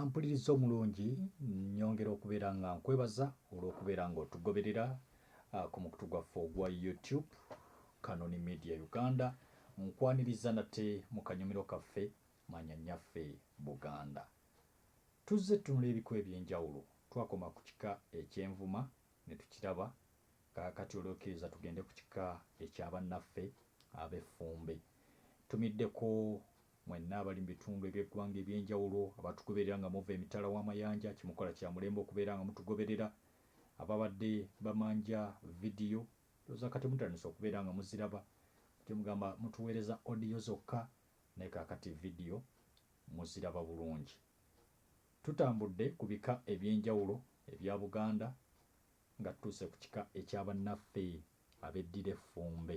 ampuliriza omulungi nyongera okubeera nga nkwebaza olw'okubeera nga otugoberera ah, ku mukutu gwaffe ogwa youtube kanoni media uganda nkwaniriza nate mu kanyumiro kaffe manya nyaffe buganda tuzze tunula ebiko ebyenjawulo twakoma ku kika ekyenvuma ne tukiraba kakati olwokiriza tugende ku kika ekyabannaffe abeffumbe tumiddeko Mwenna abali mu bitundu eby'eggwanga eby'enjawulo abatugoberera nga muva emitala w'amayanja kyemukola kya mulembe okubeera nga mutugoberera. Ababadde bamanja vidiyo ndowooza kati mutandise okubeera nga muziraba. Mujje mugamba mutuweereza audio zokka naye kaakati vidiyo muziraba bulungi. Tutambudde ku bika eby'enjawulo ebya Buganda nga tutuuse ku kika ekya bannaffe abeddira Effumbe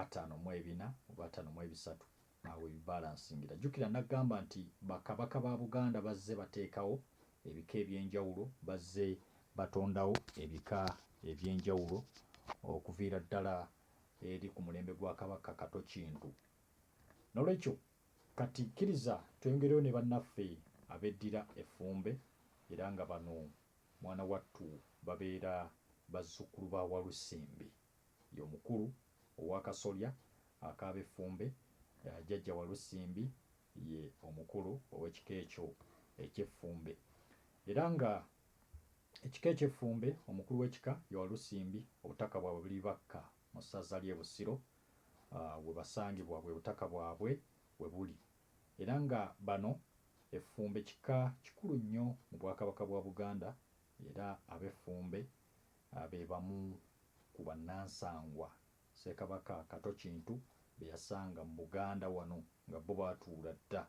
ataano mu ebina oba ataano mu ebisatu awo we bibalansingira. Jjukira nnaggamba nti Bakabaka ba Buganda bazze bateekawo ebika eby'enjawulo, bazze batondawo ebika eby'enjawulo okuviira ddala eri ku mulembe gwa Kabaka Kato Kintu. N'olwekyo kati kkiriza tweyongereyo ne bannaffe abeddira Effumbe era nga bano mwana wattu babeera bazzukkulu ba Walusimbi. Ye omukulu ow'akasolya ak'Abeffumbe, Jjajja Walusimbi ye omukulu ow'ekika ekyo eky'Effumbe. Era nga ekika eky'Effumbe, omukulu w'ekika ye Walusimbi. Obutaka bwabwe buli Bakka mu ssaza ly'e Busiro we basangibwa bwe butaka bwabwe we buli. Era nga bano Effumbe kika kikulu nnyo mu Bwakabaka bwa Buganda era Abeffumbe be bamu ku bannansangwa Ssekabaka Kato Kintu be yasanga mu Buganda wano nga bo baatuula dda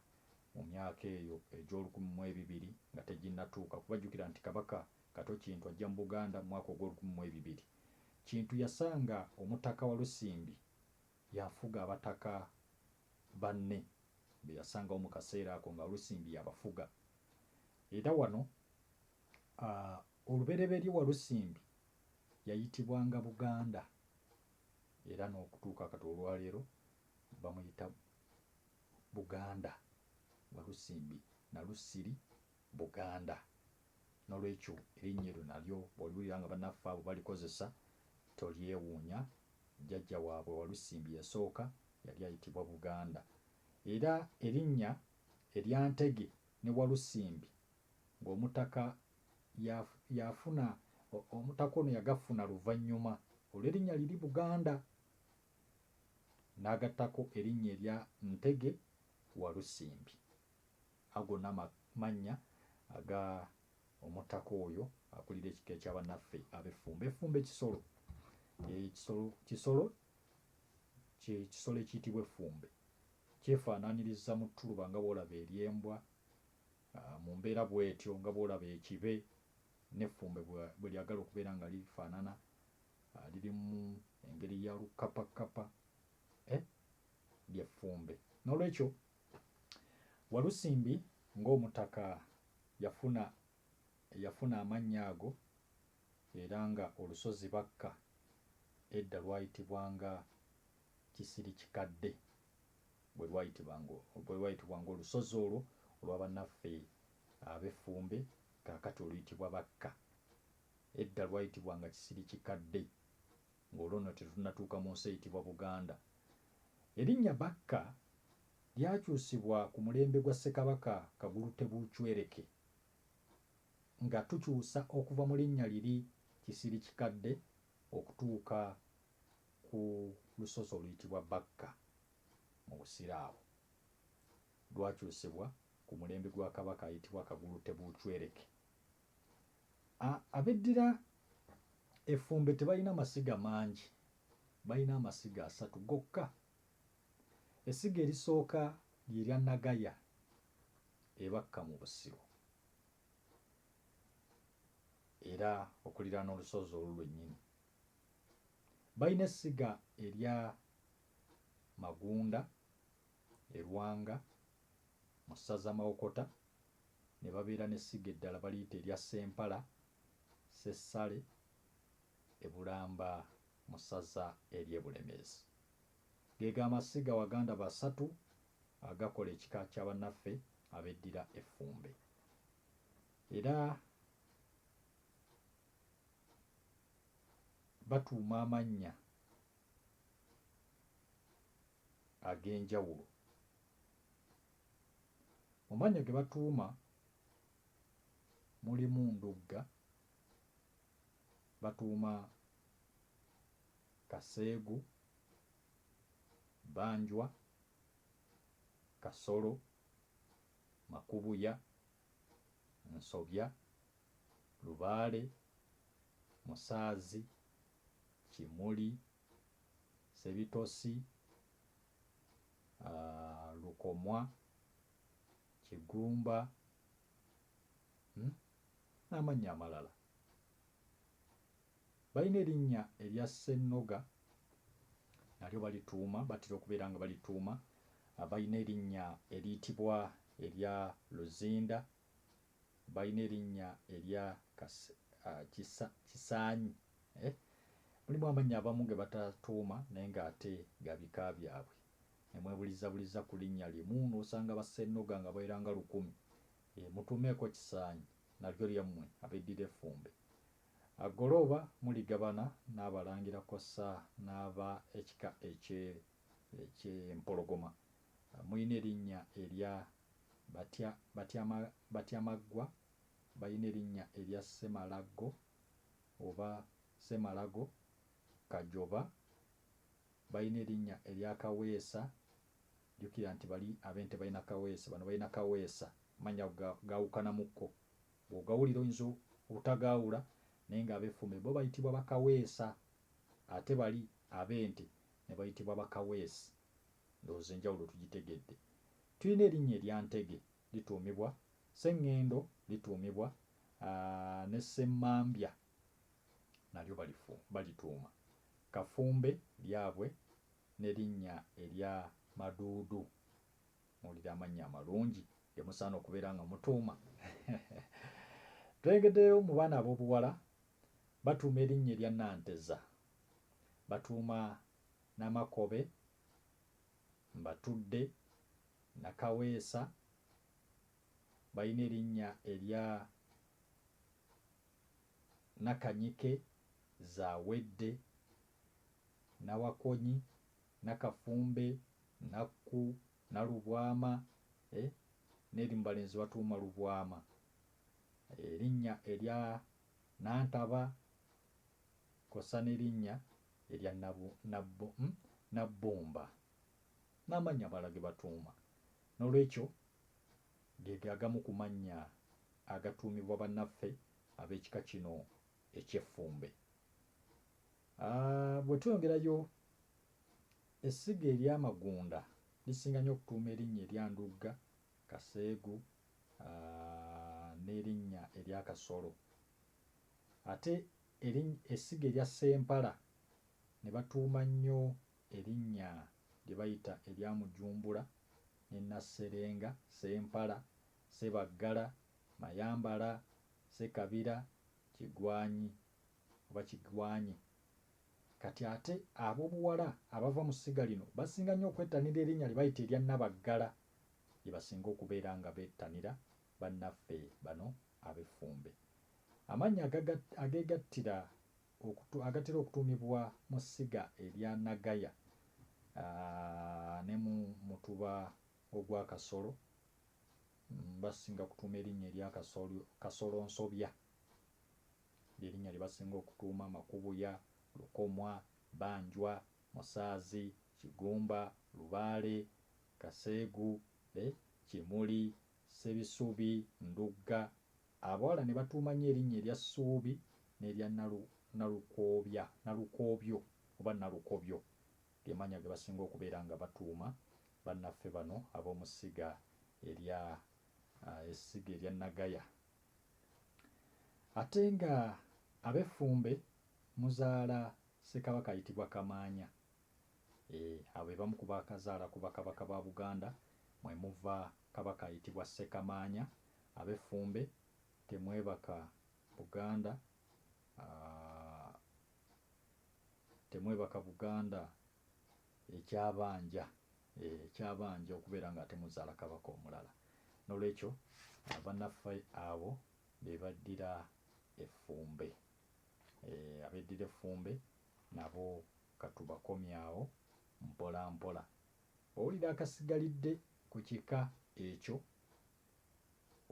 mu myaka eyo egy'olukumi mu ebibiri nga teginnatuuka kuba jjukira nti Kabaka Kato Kintu ajja mu Buganda mu mwaka ogw'olukumi mu ebibiri. Kintu yasanga Omutaka Walusimbi y'afuga Abataka banne be yasangawo mu kaseera ako nga Walusimbi y'abafuga era wano Olubereberye Walusimbi yayitibwanga Buganda era n'okutuuka kati olwaleero bamuyita Buganda Walusimbi Nalusiri Buganda. Nolwekyo erinnya eryo nalyo bwoliwulira nga banaffe abo balikozesa tolyewuunya, jjajja waabwe Walusimbi eyasooka yali ayitibwa Buganda. Era erinnya erya Ntege ne Walusimbi ng'omutaka yafuna omutaka ono yagafuna luvannyuma olw'erinnya liri Buganda n'agattako erinnya erya Ntege Walusimbi. Ago nno amannya aga omutaka oyo akulira ekika ekya bannaffe ab'effumbe. Effumbe kisolo, ekisolo kisolo kisolo ekiyitibwa effumbe kyefaanaanyiriza mu ttuluba nga bw'olaba ery'embwa. Mu mbeera bw'etyo, nga bw'olaba ekibe n'effumbe bwe lyagala okubeera nga lifaanana, lirimu engeri ya lukkapakkapa, eh, ly'effumbe. N'olwekyo, Walusimbi ng'omutaka yafuna, yafuna amannya ago, era nga olusozi Bakka edda lwayitibwanga Kisirikikadde bwe lwayitibwa ng'olusozi olwo olwa bannaffe Abeffumbe kaakati oluyitibwa Bakka. Edda lwayitibwanga Kisirikikadde ng'olwo nno tetunnatuuka mu nsi eyitibwa Buganda. Erinnya Bakka lyakyusibwa ku mulembe gwa Ssekabaka Kagulu Tebuucwereke nga tukyusa okuva mu linnya liri Kisirikikadde okutuuka ku lusozi oluyitibwa Bakka mu Busiraamu. Lwakyusibwa ku mulembe gwa Kabaka ayitibwa Kagulu Tebuuchwereke. A Abeddira Effumbe tebalina masiga mangi, balina amasiga asatu gokka. Essiga erisooka lye lya Nagaya e Bakka mu Busiro era okuliraana olusozi olwo lwennyini. Balina essiga erya Magunda e Lwanga mu ssaza Mawokota ne babeera n'essiga eddala baliyita erya Ssempala, Ssessale, e Bulamba mu ssaza ery'e Bulemeezi. Ge ga masiga Waganda basatu agakola ekika kya bannaffe abeddira Effumbe. Era. batuuma amannya ag'enjawulo. Mu mannya ge batuuma mulimu Ndugga, batuuma Kaseegu, Banjwa, Kasolo, Makubuya, Nsobya, Lubaale, Musaazi, Kimuli, Ssebitosi, Lukomwa, Kigumba n'amannya amalala. Balina erinnya erya Ssennoga nalyo balituuma batera okubeera nga balituuma balina erinnya eriyitibwa erya Luzinda, balina erinnya erya Kisa, Kisaanyi eh mulimu amannya abamu ge batatuuma naye ng'ate ga bika byabwe ne mwebulizabuliza ku linnya limu n'osanga ba Ssennoga nga baweranga lukumi. Mutuumeeko Kisaanyi nalyo lyammwe abeddira Effumbe Agolooba muligabana n'abalangira kw'ossa n'aba ekika eky'Empologoma. Mulina erinnya erya Batyamaggwa, balina erinnya erya Ssemalaggo oba Ssemalago, Kajoba, balina erinnya erya Kaweesa, jjukira nti bali ab'ente balina Kaweesa, bano balina Kaweesa, amannya ago gawukanamukko. Bw'ogawulira oyinza obutagaawula naye ng'Abeffume bo bayitibwa Bakaweesa ate bali Abente ne bayitibwa Bakaweesi. Ndowooza enjawulo tugitegedde. Tulina erinnya erya Ntege lituumibwa Ssengendo, lituumibwa ne Ssemmambya nalyo balifu balituuma. Kafumbe lyabwe ne linnya erya Maduudu. Muwulire amannya amalungi ge musaana okubeera nga mutuuma. Tulengeddeyo mu baana ab'obuwala batuuma erinnya erya Nanteza, batuuma Namakobe, Mbatudde, Nakaweesa, balina erinnya erya Nakanyike, Zawedde, Nawakonyi, Nakafumbe, Nakku, Nalubwama eh n'erimu balenzi batuuma Lubwama. Erinnya erya Nantaba kw'ossa n'erinnya erya Nabu, Nabbu, um Nabbumba n'amannya amalala ge batuuma. Noolwekyo ge ge agamu ku mannya agatuumibwa bannaffe ab'ekika kino eky'Effumbe. A, Bwe tweyongerayo, essiga erya Magunda lisinga nnyo okutuuma erinnya erya Ndugga, Kaseegu, a, n'erinnya erya Kasolo. Ate eriny, essiga erya Ssempala ne batuuma nnyo erinnya lye bayita erya Mujumbula ne Nasserenga, Ssempala, Ssebaggala, Mayambala, Ssekabira, Kigwanyi, oba kigwanye. Kati ate ab'obuwala abava mu ssiga lino basinga nnyo okwettanira erinnya lye bayita erya Nabaggala lye basinga okubeera nga bettanira bannaffe bano ab'effumbe. Amannya ageegattira agatera okutuumibwa mu ssiga erya Nagaya ne mu mutuba ogwa Kasolo basinga kutuuma erinnya erya Kasolonsobya. Ly'erinnya lye basinga okutuuma Makubuya, Lukomwa, Banjwa, Musaazi, Kigumba, Lubaale, Kaseegu, eh, Kimuli, Ssebisubi, Ndugga. Abawala ne batuuma nnyo erinnya erya Ssuubi n'erya Nalu, Nalukoobya, Nalukoobyo oba Nalukobyo. Ge mannya ge basinga okubeera nga batuuma bannaffe bano ab'omu Ssiga erya, ah, Essiga erya Nagaya. Ate nga abeffumbe muzaala Ssekabaka ayitibwa Kamaanya. Eeh abo bebamu ku baakazaala ku Bakabaka ba Buganda mwe muva Kabaka ayitibwa Ssekamaanya. Abeffumbe temwebaka Buganda aah temwebaka Buganda ekyabanja. ekyabanja okubeera ng'ate muzaala Kabaka omulala. N'olwekyo bannaffe abo be baddira Effumbe. Abeddira Effumbe nabo ka tubakomye awo mpolampola. Bw'owulira akasigalidde ku kika ekyo,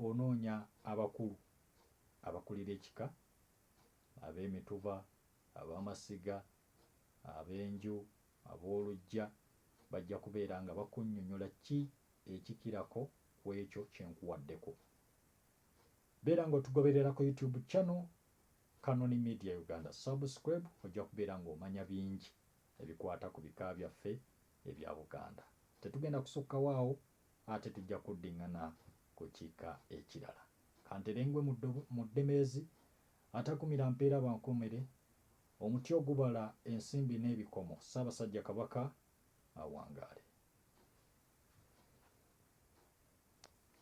onoonya abakulu abakulira ekika, Abeemituba, Ab'amasiga, ab'enju, ab'oluggya bajja kubeera nga bakunnyonyola ki ekikirako ku ekyo kye nkuwaddeko. Beera nga otugoberera ku YouTube channel Canon Media Uganda subscribe ojja kubeera nga omanya bingi ebikwata ku bika byaffe ebya Buganda. Tetugenda kusukkawo awo ate tujja kuddingana ku kika ekirala. Kantere ngwe mu ddobo mu ddemeezi Atakumira mpeera bankomere, omuti ogubala ensimbi n'ebikomo, Ssaabasajja Kabaka awangaale.